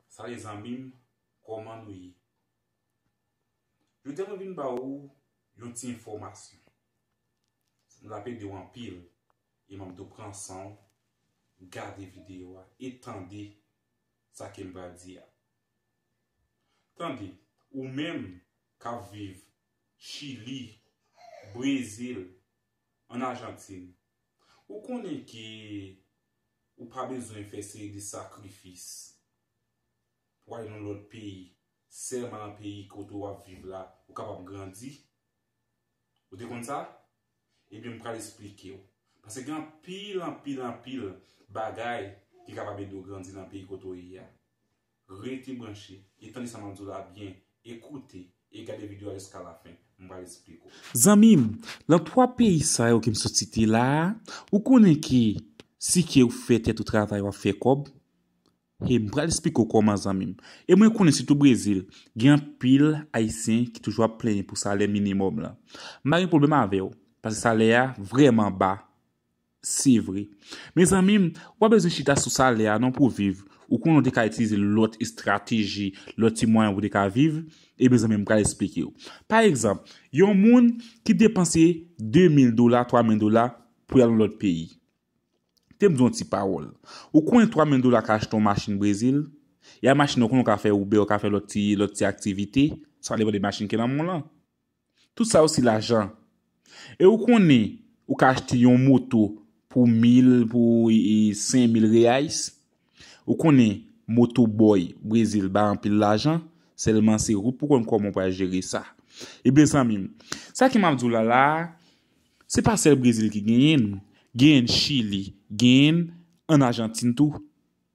Salut zanmim koman nou ye Jodia mwen vin ba ou yon ti enfòmasyon lap ede w anpil e map do pran san w gade video a e tande sa kem pral di a tande ou menm kap viv chili brezil an ajantin Ou konnen ke ou pa bezwen fè seri de sakrifis pou al nan lòt peyi, sèlman nan peyi kote ou ap viv la ou kapab grandi? Ou te konn sa? Ebyen m pral esplike ou. Pase gen anpil, anpil, anpil bagay ki kapab ede ou grandi nan peyi kote ou ye a. Rete branche e tande sa map diw la byen e koute e gade video a jiska la fen m pral esplik ou. Zanmim, lan 3 peyi sa yo kem sot site la a, ou konnen ke si kew fè tèt ou travay wap fè kòb, he m pral esplike w kòman zanmim. E mwen konnen sitou Brezil, gen anpil ayisyen ki toujou ap plenyen pou salè minimòm lan. M pa gen pwoblèm avèw, paske salè a vrèman ba. Se vre. Mezanmi, ou pa bezwen chita sou salè a non pou w viv. Ou konnen ou te ka itilize lòt estrateji, lòt ti mwayen pou w te ka viv. Eben zanmi m pral esplike w. Pa egzanp, yon moun ki depanse 2 mil dola, 3 mil dola pou y al yon lòt peyi. Tem di w yon ti pawòl. Ou konnen 3 mil dola ka achte yon machin Brezil? E a machin nan ou konnen ou ka fè Uber, ou ka fè lòt ti aktivite, sa depan de machin ki nan men w lan. Tout sa yo se lajan. E ou konnen ou ka achte yon moto pou mil, pou sen mil reyais. Ou konnen moto boy Brezil bay anpil lajan, sèlman se ou pou konn kòman ou pral jere sa. E mezanmi, sa ke m ap di w la la a, se pa sèl Brezil ki genyen l, genyen l Chili, genyen l an Ajantin tou.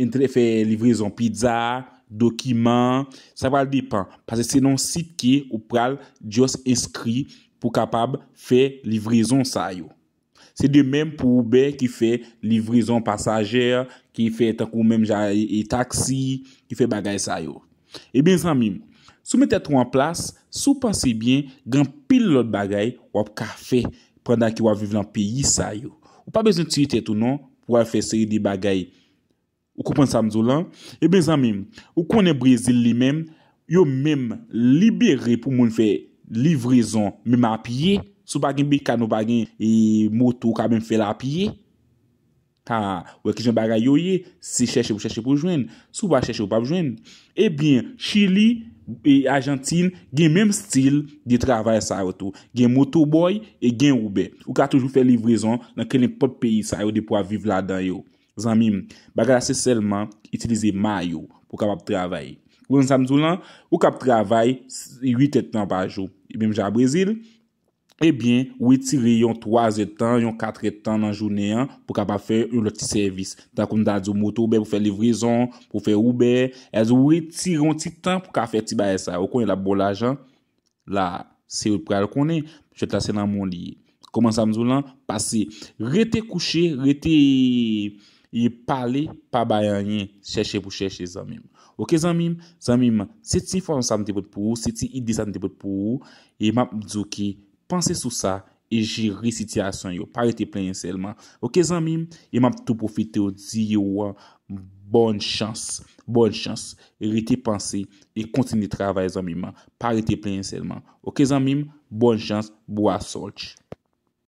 Entrè fè livrezon pizza, dokiman, sa pral depan pase se nan sit ke ou pral just enskri pou kapab fè livrezon sa yo. Se de menm pou Uber ki fè livrezon pasager, ki fè tankou menm jan e taxi, ki fè bagay sa yo. Ebyen zanmi m, si w met tèt ou an plas, si w panse byen, gen anpil lòt bagay w ap ka fè pandan ke w ap viv lan peyi sa yo. Ou pa bezwen tiye tèt ou non pou w al fè seri de bagay. Ou konprann sa m di w lan? Ebyen zanmi m, ou konnen Brezil li menm, yo menm libere pou moun fè livrezon menm a pye. Si w pa gen bekàn ou pa gen moto ou ka menm fè l a pye. Ta wè kijan bagay yo ye, se chèche pou chèche pou jwenn, si w pa chèche ou pap jwenn. Ebyen chili e ajantin gen menm stil de travay sa yo tou, gen motobòy e gen oubè. Ou ka toujou fè livrezon nan kenenpòt peyi sa yo depi wap viv ladan yo. Zanmi m, bagay la se sèlman itilize ma yo pou kapab travay. Ou konprann sa m di w lan? Ou kab travay 8 èd tan pa jou. Menm jan a Brezil. ebyen ou etire yon 3 zè tan, yon 4 è tan nan jounen an pou kapab fè yon lòt ti sèvis. Tankou m ta di w moto Uber pou fè livrezon, pou fè Uber, èz ou etire yon ti tan pou ka fè ti bagay sa yo. Ou konnen l ap ba w lajan? La a, se ou k pral konnen. Jwèt la se nan men w li ye. Kòman sa m di w lan? Pase rete kouche, rete. Ye pale pa bay anyen chèche pou chèche zanmim ok zanmim zanmim se ti enfòmasyon sa mte pot pou ou se ti ide sa mte pot pou ou e map diw ke panse sou sa e jere sitiyasyon yo pa rete plenyen sèlman ok zanmim e map tou pwofitew diw bòn chans bòn chans rete panse e kontinye travay zanmim pa rete plenyen sèlman ok zanmim bòn chans bwasòlch.